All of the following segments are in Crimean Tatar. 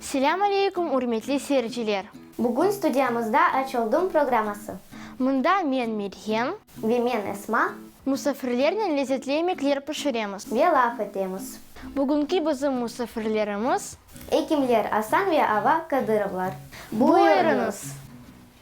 Selâm aleykum, ürmetli seyirciler! Bugün studiyamızda Aç oldım programması. Mında men, Meryen. Ve men, Esma. Musafirlernen lezetli emekler pişiremiz. Ve laf etemiz. Bugünki bizim musafirlerimiz. Ekimler Asan ve Ava Kadırovlar. Buyurıñız!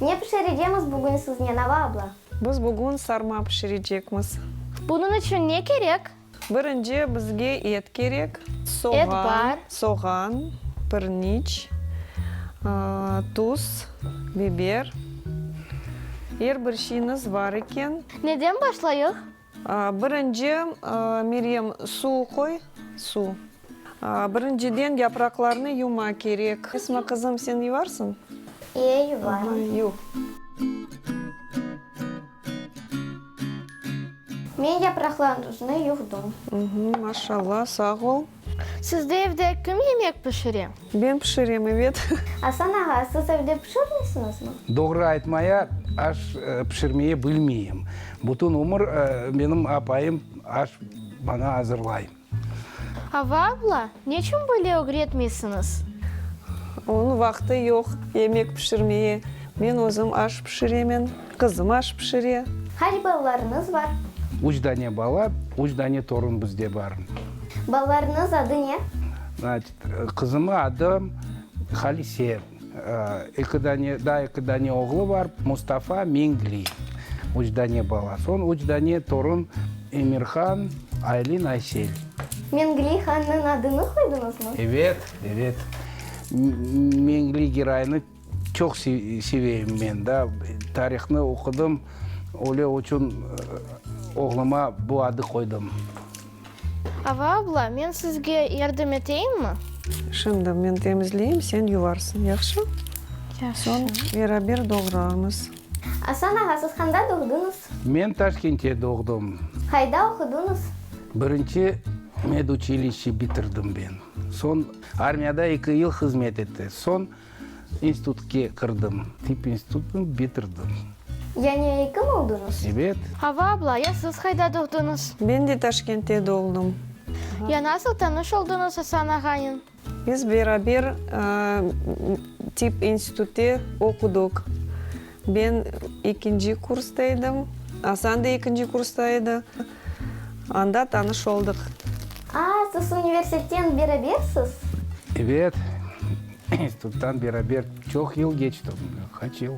Ne pişirecemiz bugün siznen, Ava abla? Biz bugün sarma pişirecekmiz. Bunıñ içün ne kerek? Birinci, bizge et kerek, soğan, soğan, pirniç, tuz, biber, er bir şeyniz bar eken. Neden başlayıq? Birinci, Meryem, suv qoy, suv. Birinciden, yapraqlarnı yuvma kerek. Esma qızım, sen yuvarsıñ? İye, yuvarım. Yuv. Men yapraqlarnıznı yuvdım. Maşallah, sağ ol. Sizde evde kim yemek pişire? Ben pişirem, evet. Asan ağa, siz evde pişirmeysiñizmi? Doğru aytmaya, aş pişirmeye bilmeyim. Bütün ömür benim apayım aş bana azırlay. Ava abla, neçün böyle ögretmeysiñiz? Onıñ vaqtı yoq yemek pişirmeye. Men özüm aş pişiremen. Qızım aş pişire. Qaç balalarıñız bar? Üç dane bala, üç dane torun bizde bar. Balalarıñız adı ne? Qızımı adı Halise. Eki dane, daa eki dane oğlu bar, Mustafa, Mengli. Üç dane bala. Soñ üç dane torun, Emirhan, Aylin, Aysel. Mengli hannıñ adını qoydıñızmı? Evet, evet. Mengli giroynı. Çoq seveyim men da, tarihni oqudım, öyle uçun oğluma bu adı qoydım. Ava abla, men sizge yardım eteyimmi? Şimdi men temizleyim, sen yuvarsın, yahşı? Yahşı. Soñ beraber doğrarmız. Asan ağa, siz qanda doğduñız? Men Taşkentte doğdım. Qayda oquduñız? Birinci meduçilişçe bitirdim ben. Soñ armiyada eki yıl hızmet etti. Soñ. İnstitutke kirdim. Tip institutını bitirdim. Yani ekim oldıñız? Evet. Hava abla, ya siz qayda doğdıñız? Ben de Taşkentte doğldım. Ya nasıl tanış oldıñız Asan ağanen? Biz beraber tip institutte oqudıq. Ben ekinci kursta edim. Asan da ekinci kursta edi. Anda tanış oldıq. A, siz universitetten berabersiz? Ebet, instituttan beraber çoq yıl keçti. Qaç yıl?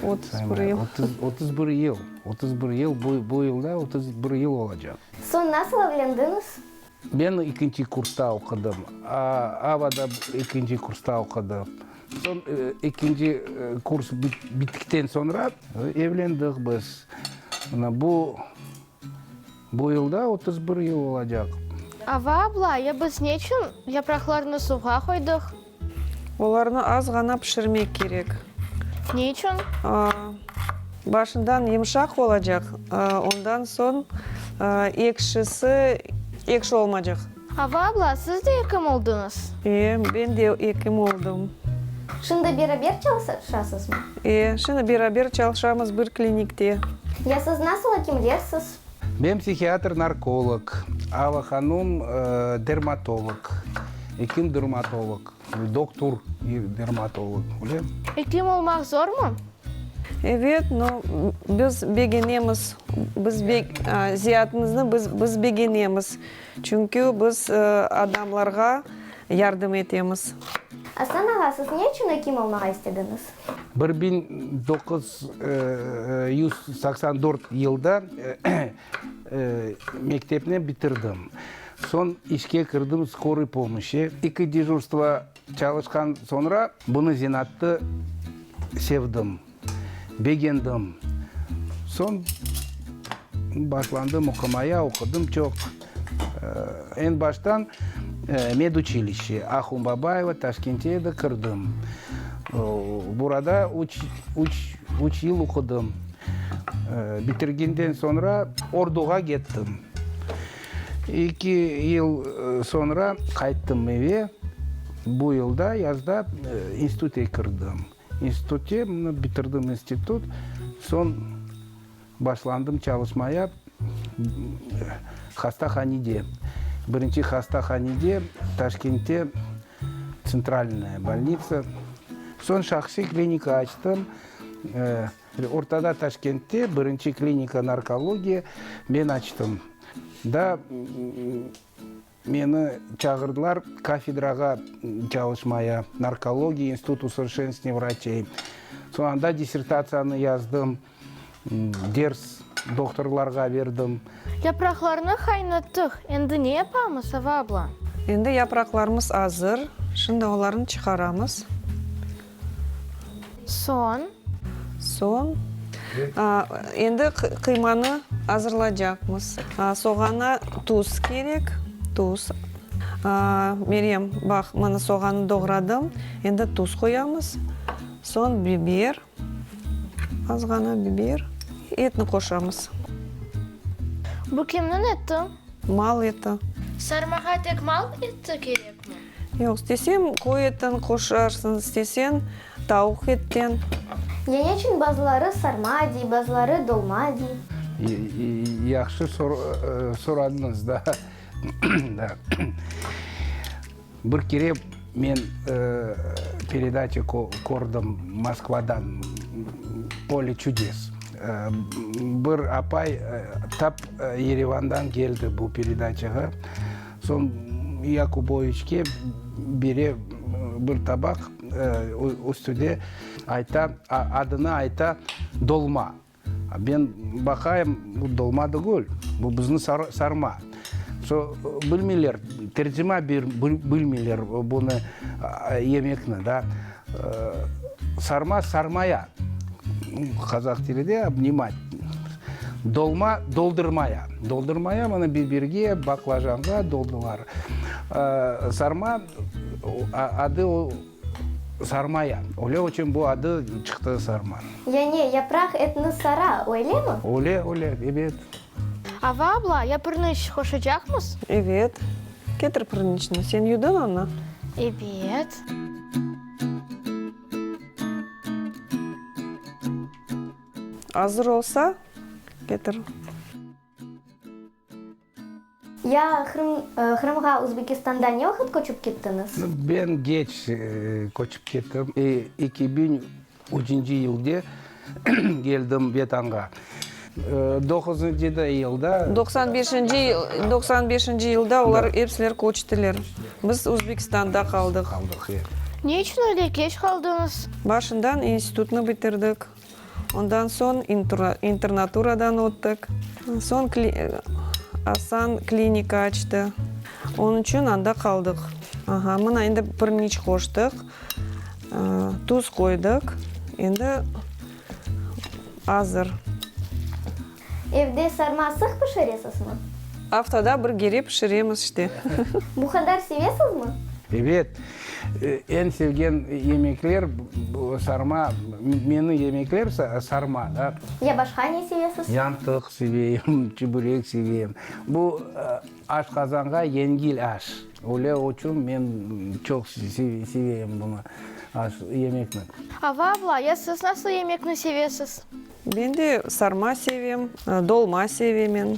Otuz bir yıl. Otuz bir yıl. Otuz bir yıl. Bu yılda otuz bir yıl olacaq. Soñ nasıl evlendiñiz? Ben ekinci kursta oqudım. Ava da ekinci kursta oqudı. Soñ ekinci kurs bittikten soñra evlendik biz. Mına bu bu yılda otuz bir yıl olacaq. Ava abla, ya biz ne içün yapraqlarnı suvğa qoydıq? Olarnı az ğana pişirmek kerek. Ne içün? Başından yımşaq olacaq, ondan soñ ekşisi, ekşi olmacaq. Ava abla, siz de ekim oldıñız? E, ben de ekim oldım. Şimdi beraber çalışasızmı? E, şimdi beraber çalışamız bir klinikte. Ya siz nasıl ekimlersiz? Men psihiatr-narkolog, Ava hanum dermatolog, ekim durmatolog, doktur dermatolog, öyle. Ekim olmaq zormu? Evet, no, biz begenemiz, biz beg, ziyatımıznı biz, biz begenemiz, çünki biz adamlarğa yardım etemiz. Aslan ağa, siz ne içün ekim olmağa istediñiz? Bir biñ doquz yüz saqsan dört yılda mektepni bitirdim. Soñ işke kirdim skoruy pomoşi. İki dejurstvo çalışqan soñra bunı zenaatı sevdim, begendim. Soñ başlandım oqumaya, oqudım çoq. Eñ baştan meduçilişçe, Ahun Babayeva, Taşkente edi, kirdim. Burada üç, üç, üç yıl oqudım. Bitirgenden soñra orduğa kettim. İki yıl soñra qayttım eve. Bu yılda, yazda institute kirdim. İnstitute, bitirdim institut, soñ. Başlandım çalışmaya hastahanede. Birinci hastahanede, Taşkentte, Tsentralnaya bolnitsa. Soñ şahsiy klinika açtım. Ortada Taşkentte birinci klinika narkologiya men açtım. Da. Meni çağırdılar kafedrağa çalışmaya, Narkologiya institut usovrşenstvenniya vraçey. Soñ anda dissertatsiyanı yazdım, ders doktorlarğa berdim. Yapraqlarnı qaynattıq, endi ne yapamız, Ava abla? Endi yapraqlarımız azır, şimdi olarnı çıqaramız. Soñ? Soñ? Endi qıymanı azırlacaqmız. Soğana tuz kerek, tuz. Meryem, baq, mana soğanı doğradım, endi tuz qoyamız. Soñ biber, azğana biber. Etni qoşamız. Bu kimniñ eti? Mal eti. Sarmağa tek mal eti kerekmi? Yoq, istesem qoy etin qoşarsıñ, istesen tavuq etten. Ya ne içün bazıları sarma dey, bazıları dolma dey? Yahşı soradıñız da. Bir kere men peredaça kördim Moskvadan, Polye çudes. Bir apay tap Yerevandan keldi bu peredaçağa. Soñ Yakuboviçke bere bir tabaq, üstüde ayta, adını ayta, dolma. Ben baqayım, bu dolma degül, bu bizni sarma. Soñ bilmeyler, tercima bilmeyler bunı, yemekni da. Sarma, sarmaya, qazaq tilide obnimat. Dolma, doldurmaya. Doldurmaya, bunı bibirge, baqlajanğa doldular. Sarma, adı o, sarmaya. Öyle içün bu adı çıqtı sarma. Yani yapraq etni sara, öylemi? Öyle, öyle, ebet. Ava abla, yapırnıç qoşacaqmız? Ebet, Ketir pırınçnı. Sen yudın onı? Ebet. Azır olsa, ketir. Ya Qırımğa Uzbekistanda ne vaqıt köçip kettiñiz? Ben geç köçip kettim. İki biñ Üçünci yılde keldim Vetanğa. Doquzunci da yılda. Doqsan beşinci, doqsan beşinci yılda olar epsiler köçtiler. Biz Uzbekistanda qaldıq. Qaldıq, e. Ne içün öyle keç qaldıñız? Başından institutnı bitirdik. Ondan soñ internaturadan öttik. Soñ kli, Asan klinika açtı. Onıñ içün anda qaldıq. Aha, mına endi bir niç qoştıq. Tuz qoydıq, endi azır. Evde sarma sıq pişiresizmi? Aftada bir gere pişiremiz işte. Bu qadar sevesizmi? Ebet, eñ sevgen yemekler sarma, meni yemekler sarma. Ya başqa ne sevesiz? Yantıq sevem, çübürek sevem. Bu. Aşqazanğa yengil aş. Öyle uçün men çoq seveyim bunı, aş, yemekni. Ava abla, ya siz nasıl yemekni sevesiz? Ben de sarma sevem, dolma sevemen.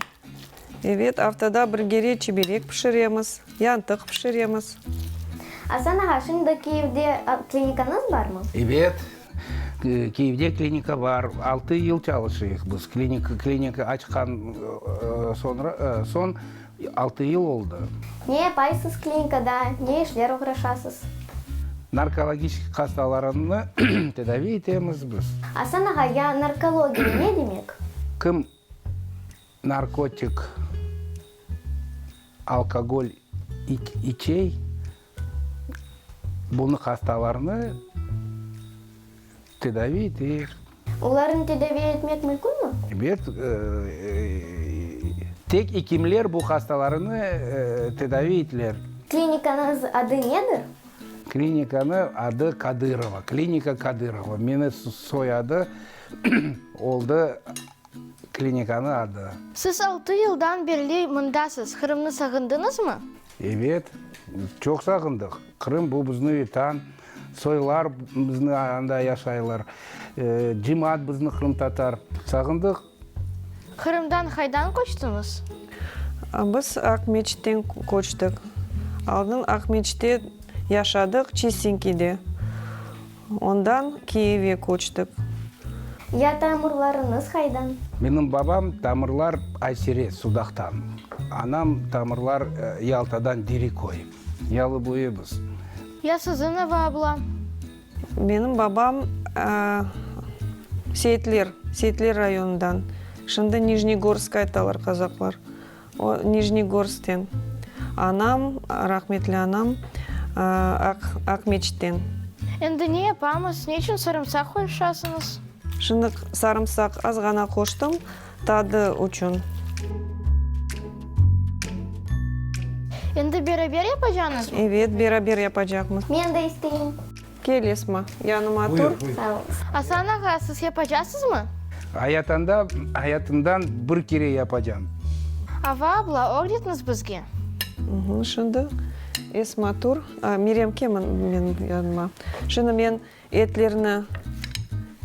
Evet, aftada bir kere çiberek pişiremiz, yantıq pişiremiz. Asan ağa, şimdi Kyivde klinikanıız barmı? Evet. Kyivde klinika bar, altı yıl çalışıyıq biz, klinika, klinika açqan sonra, soñ altı yıl oldı. Ne yapaysız klinikada, ne işler oğraşasız? Narkologiçki qastalarınnı tedaviy etemiz biz. Asan ağa, ya narkologiya ne demek? Kim narkotik, alkogol içey, Bunı hastalarnı tedavi eter. Olarnı tedavi etmek mümkünmi? Ebet, tek ekimler bu hastalarnı tedavi etiler. Klinikanıñ adı nedir? Klinikanıñ adı Kadırova, klinika Kadırova. Meni soyadı oldı klinikanıñ adı. Siz altı yıldan berli mındasız, Qırımnı sağındıñızmı? Ebet, çoq sağındıq. Qırım, bu bizni vetan. Soylar bizni anda yaşaylar. Cemaat bizni qırımtatar. Sağındıq. Qırımdan qaydan köçtiñiz? Biz Aqmescitten köçtik. Aldın Aqmesctte yaşadıq, Çistinkide. Ondan Kiyevge köçtik. Ya tamırlarıñız qaydan? Menim babam tamırlar Aysere, Sudaqtan, anam tamırlar Yaltadan, Deriköy, yalıboyımız. Ya siziñ, Ava abla? Menim babam Seyitler, Seyitler rayonından, şimdi Nijnegorsk aytalar qazaqlar. O, Nijnegorskten. Anam, rahmetli anam, Aq, Aqmeçitten. Endi ne yapamız? Niçün sarımsaq qoşasıñız? Şınıq, sarımsaq azğana qoştım, tadı uçün. Endi beraber yapacañızmı? Evet, beraber yapacaqmız. Men de isteyim. Kel, Esma, yanıma tur. Sağ ol. Asan ağa, siz yapacasızmı? Ayatanda, ayatımdan bir kere yapacam. Ava abla, ögretniz bizge. Şimdi, Esma, tur. Mirem, kel menim yanıma. Şimdi men etlerni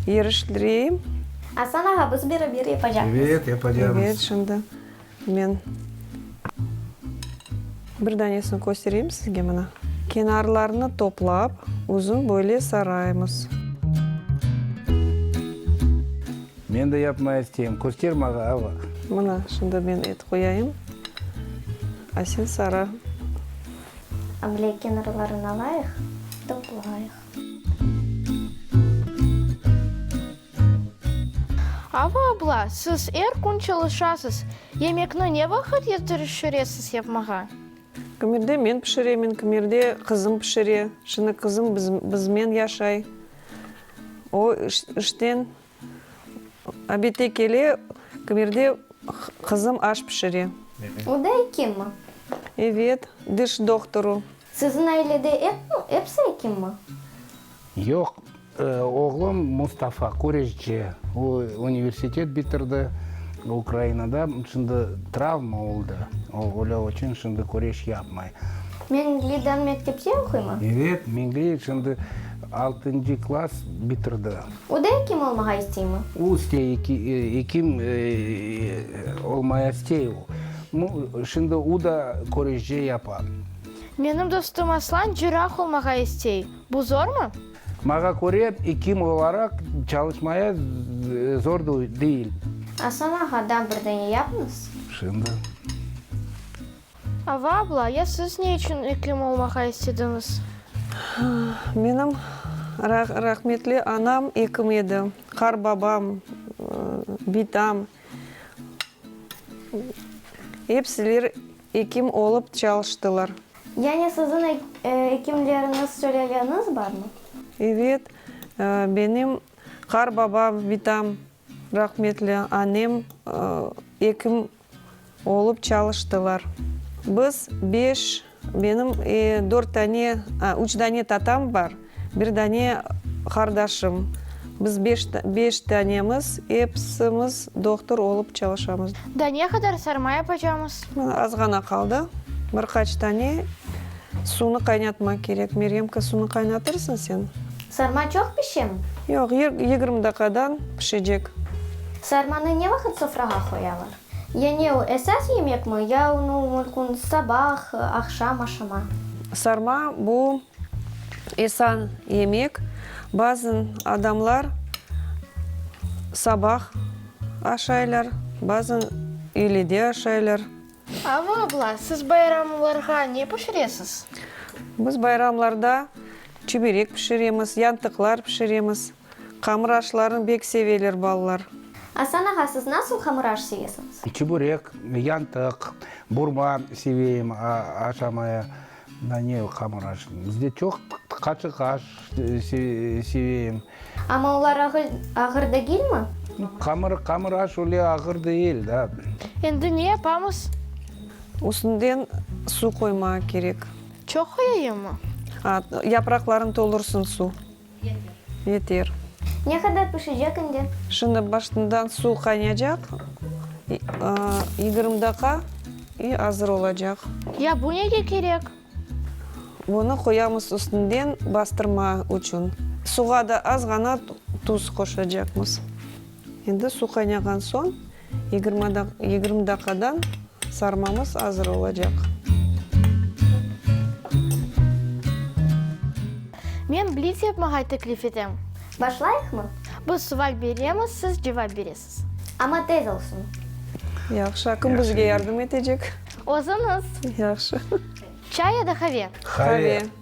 yeriştireyim. Asan ağa, biz beraber yapacaqmız. Evet, yapacağımız. Evet, şimdi. Men bir danesini köstereyim sizge, mına. Kenarlarını toplap, uzun böyle saraymız. Men de yapmay isteyim, köster mağa, Ava. Mına, şimdi men et qoyayım, a sen sara. Böyle kenarlarını alayıq, toplayıq. Ava abla, siz er kün çalışasız, yemekni ne vaqıt yetişiresiz yapmağa? Kimerde men pişiremen, kimerde qızım pişire. Şimdi qızım bizmen yaşay. O, işten obedte kele, kimerde qızım aş pişire. O da ekim mi? Evet, diş doktoru. Siziñ ailede epsi ekimmi? Yoq, oğlum Mustafa küreşçi. O, universitet bitirdi Ukrainada. Şimdi travma oldı, ölü içün şimdi küreş yapmay. Mengli de mektepte oquymi? Evet, Mengli şimdi altıncı klass bitirdi. O da ekim olmağa isteymi? O istey, ekim olmaya istey o. Mı, şimdi u da körüşce yapar. Menim dostum Aslan cirah olmağa istey, bu zormı? Mağa köre, ekim olaraq çalışmaya zor deyil. Aslan ağa, da bir dene yapıñız. Şimdi. Ava abla, ya siz ne içün ekim olmağa istediñiz? Menim rahmetli anam ekim edi, qarbabam, bitam. Epsiler ekim olıp çalıştılar. Yani siziñ ekimleriñiz süleleniz barmı? Evet, benim qarbabam, vitam, rahmetli anem ekim. Olıp çalıştılar. Biz beş, benim dört dane, a, üç dane tatam bar, bir dane qardaşım. Biz beş, beş danemiz, episimiz doqtur olıp çalışamız. Da ne qadar sarma yapacamız? Mına azğana qaldı. Bir qaç dane suvnı qaynatmaq kerek. Meryemka, suvnı qaynatırsıñ sen? Sarma çoq pişemi? Yoq, yigirmi daqadan pişecek. Sarmanı ne vaqıt sofrağa qoyalar? Yani o esas yemekmi, ya onı mülkün sabah, aqşam aşama? Sarma, bu esan yemek. Bazın adamlar sabah aşaylar, bazın öylede aşaylar. Ava abla, siz bayramlarğa ne pişiresiz? Biz bayramlarda çüberek pişiremiz, yantıqlar pişiremiz. Hamır aşlarını bek seveler balalar. Asan ağa, siz nasıl hamır aş sevesiñiz? Çiburek, yantıq, burma seveyim aşamaya. Da ne hamır aş, bizde çoq qaçıq aş seveyim. Amma olar ağır degilmi? Hamır, hamır aş öyle ağır değil da. Endi ne yapamız? Üstünden su qoymağa kerek. Çoq qoyayımmı? Aa, yapraqlarını tolursıñ su. Yeter. Ne qadar pişecek indi? Şimdi başından suv qaynayacaq, yigirmi daqa i azır olacaq. Ya bu nege kerek? Bunı qoyamız üstünden bastırma içün. Suğa da azğana tuz qoşacaqmız. Endi suv qaynağan soñ Yigirmi daqadan sarmamız azır olacaq. Men blitz yapmağay teklif etem. Başlayıqmı? Biz suval beremiz, siz cevap beresiz. Amma tez olsun. Yahşı, a kim bizge yardım etecek? Özüñiz. Yahşı. Çay ya da qave? Qave.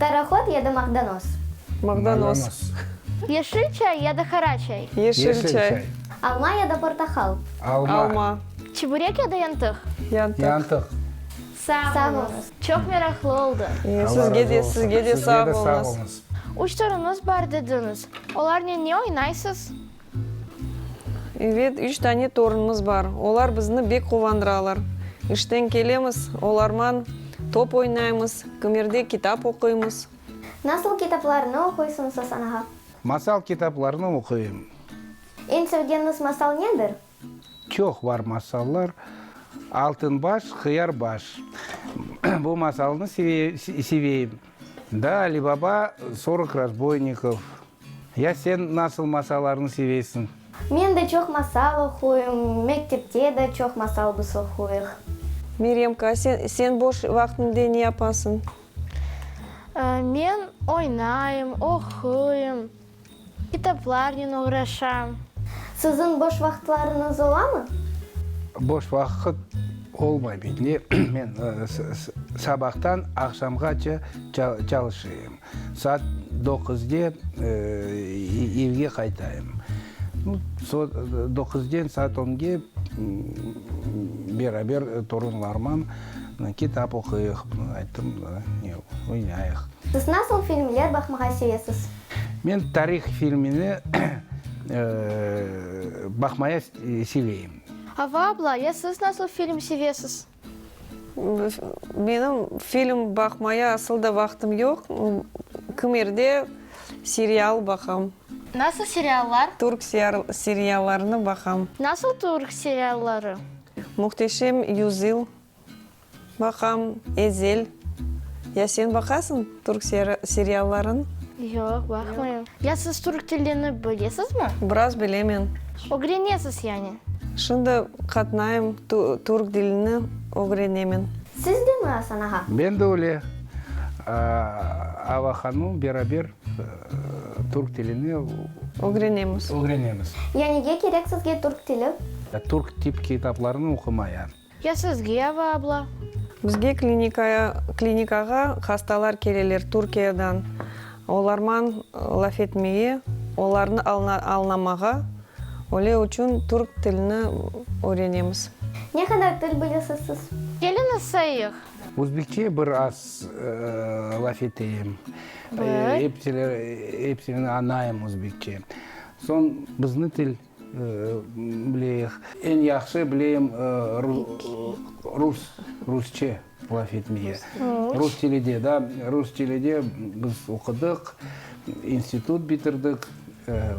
Parohod ya da maqdanos. Maqdanos. Yeşil çay ya da qara çay. Yeşil çay. Alma ya da portahal. Alma. Çiburek ya da yantıq. Yantıq. Sağ oluñız. Çoq meraqlı oldı. Sizge de, sizge de sağ oluñız. Üç torunıñız bar dediñiz. Olarnen ne oynaysız? Evet, üç dane torunımız bar. Olar bizni bek quvandıralar. İşten kelemiz, olarman top oynaymız, kimerde kitap oquymız. Nasıl kitaplarnı oquysıñız, Asan ağa? Masal kitaplarnı oquyım. Eñ sevgeniniz masal nedir? Çoq bar masallar. Altın baş, Hıyar baş. Bu masalnı seveyim. Da Ali Baba, Sorok razboynikov. Ya sen nasıl masallarnı seveysiñ? Men de çoq masal oquyım. Mektepte de çoq masal biz oquyıq. Meremka, sen sen boş vaqtında ne yapasıñ? Men oynayım, oquyım, kitaplarnen oğraşam. Siziñ boş vaqıtlarıñız olamı? Boş vaqıt olmay, beyt. Men sabahtan aqşamğaça çalışayım. Saat doquzde evge qaytayım. Doquzden saat onge beraber torunlarman kitap oquyıq, ayttım, oynayıq. Siz nasıl filmler baqmağa sevesiz? Men tarih filmini baqmaya seveyim. Ava abla, ya siz nasıl film sevesiz? Menim film baqmaya asıl da vaqtım yoq, kimerde serial baqam. Nasıl seriallar? Türk seriallarını baqam. Nasıl türk serialları? Muhteşem yüzyıl baqam, Ezel. Ya sen baqasıñ? Türk serialların? Yoq, baqmayım. Ya siz türk tilini bilesizmi? Biraz bilemen. Ögrenesiz yani? Şimdi qatnayım, türk dilini ögrenemen. Siz de mi, Asan ağa? Ben de öyle. Ava hanım beraber türk tilini. Ögrenemiz. Ögrenemiz. Ya nege kerek sizge türk tili? Türk tip kitaplarını oqumayan. Ya sizge, Ava abla? Bizge klinikaya, klinikağa hastalar keleler Türkiyedan, olarman laf etmege, olarnı alna, alnamağa, öyle uçün türk tilini öğrenemiz. Ne qadar til bilesiz siz? Kelin ıssayıq. Özbekçe bir az laf eteyim. Bir. Epsili, epsini añayım özbekçe. Soñ bizni til. Bileyik. Eñ yahşı bileyim rus, rusçe laf etmege. Rus tilide, da, rus tilide biz oqudıq, institut bitirdik,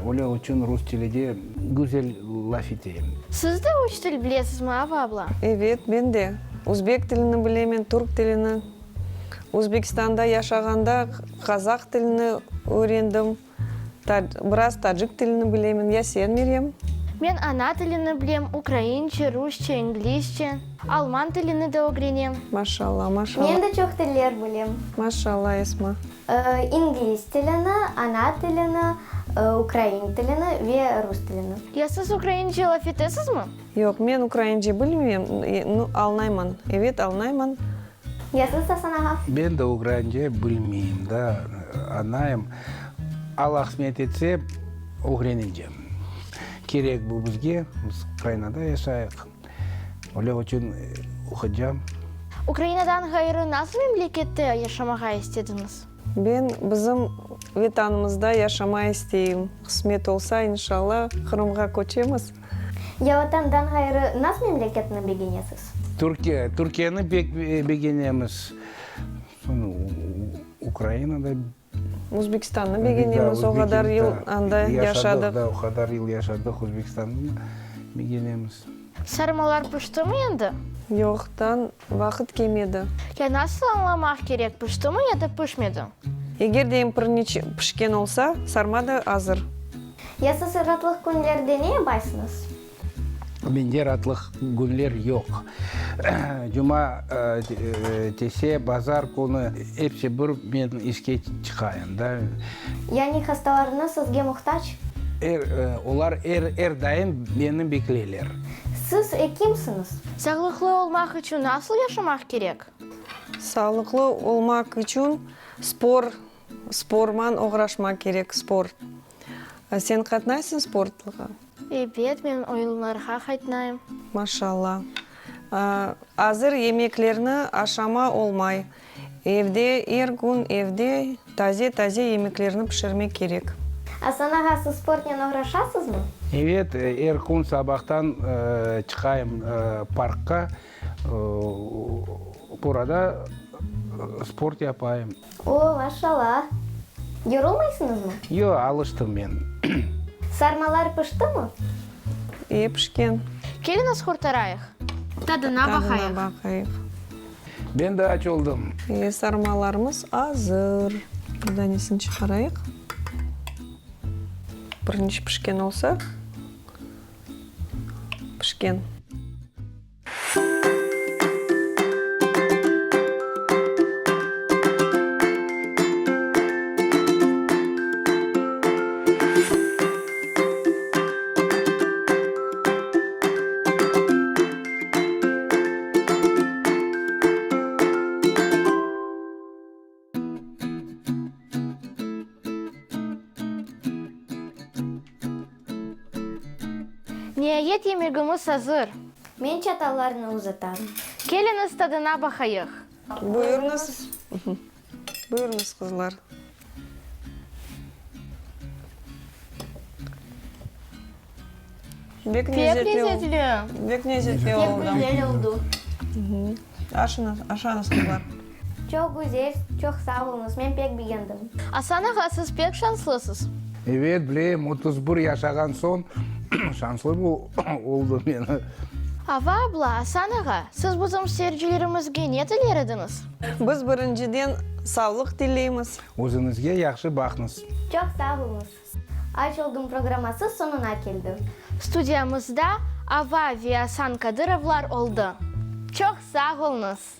öyle içün rus tilide güzel laf eteyim. Siz de üç til bilesizmi, Ava abla? Evet, men de. Uzbek tilini bilemen, türk tilini. Uzbekistanda yaşağanda qazaq tilini öğrendim. Biraz tacik tilini bilemen. Ya sen, Meryem? Men ana tilini bilem, ukrainçe, rusçe, inglizçe. Alman tilini de ögrenem. Maşallah, maşallah. Men de çoq tiller bilem. Maşallah, Esma. İngliz tilini, ana tilini, ukrain tilini ve rus tilini. Ya siz ukrainçe laf etesizmi? Yoq, men ukrainçe bilmeyem, alnayman. Evet, alnayman. Yazıs da sana haf. Ben de ugrence bilmeyim da anayım. Al ahsmet etse ögrenicem. Kerek bu bizge, biz Ukrainada yaşayıq. Öyle uçün uqıcam. Ukrainadan ğayrı nasıl memlekette yaşamağa istediñiz? Ben bizim Vetanımızda yaşamay isteyim. Qısmet olsa, inşallah, Qırımğa köçemiz. Ya Vatandan ğayrı naz memleketni begenesiz? Türkiye, Türkiyeni pek begenemiz. Soñra Ukraina da. Uzbekistannı begenemiz, o qadar yıl anda yaşadıq. O qadar yıl yaşadıq, Uzbekistannı begenemiz. Sarmalar piştimi endi? Yoq, dan. Vaqıt kemedi. Ya nasıl añlamaq kerek, piştimi ya da pişmedi? Eger de empirniç pişken olsa, sarma da azır. Ya siz ratlıq künlerde ne yapaysıñız? Mende ratlıq künler yoq. Cuma, tese, bazar künü, episi bir men işke çıqayım da. Yani hastalarıñız sizge muhtac? Olar er daim meni bekleyler. Siz ekimsiñiz. Sağlıqlı olmaq içün nasıl yaşamaq kerek? Sağlıqlı olmaq içün spor, sporman oğraşmaq kerek, spor. Sen qatnaysıñ sportlığa? Ebet, men oyunlarğa qatnayım. Maşallah. Azır yemeklerni aşama olmay. Evde, er kün evde taze-taze yemeklerni pişirmek kerek. Asan ağa, siz sportnen oğraşasızmı? Evet, er kün sabahtan çıqayım parkqa, orada sport yapayım. O, maşalâ! Yorulmaysıñızmı? Yoq, alıştım men. Sarmalar piştimı? E, pişken. Keliñiz, qurtarayıq. Tadına baqayıq. Ben de aç oldım. Ve sarmalarımız azır. Bir danesini çıqarayıq. Birinci pişken olsa, pişken. Niayet yemegimiz azır. Men çatallarnı uzatam. Keliñiz, tadına baqayıq. Buyurıñız. Buyurıñız, qızlar. Bek lezetli oldı. Bek lezetli oldı. Aşañız, qızlar. Çoq güzel, çoq sağ oluñız, men pek begendim. Asan ağa, siz pek şanslısız. Ebet, bilem, otuz bir yaşağan soñ şanslı oldım men. Ava abla, Asan ağa, siz bizim seyircilerimizge ne tiler ediñiz? Biz birinciden savlıq tileymiz. Özüñizge yahşı baqnız. Çoq sağ oluñız. Aç oldım programması soñuna keldi. Studiyamızda Ava ve Asan Kadırovlar oldı. Çoq sağ olñız.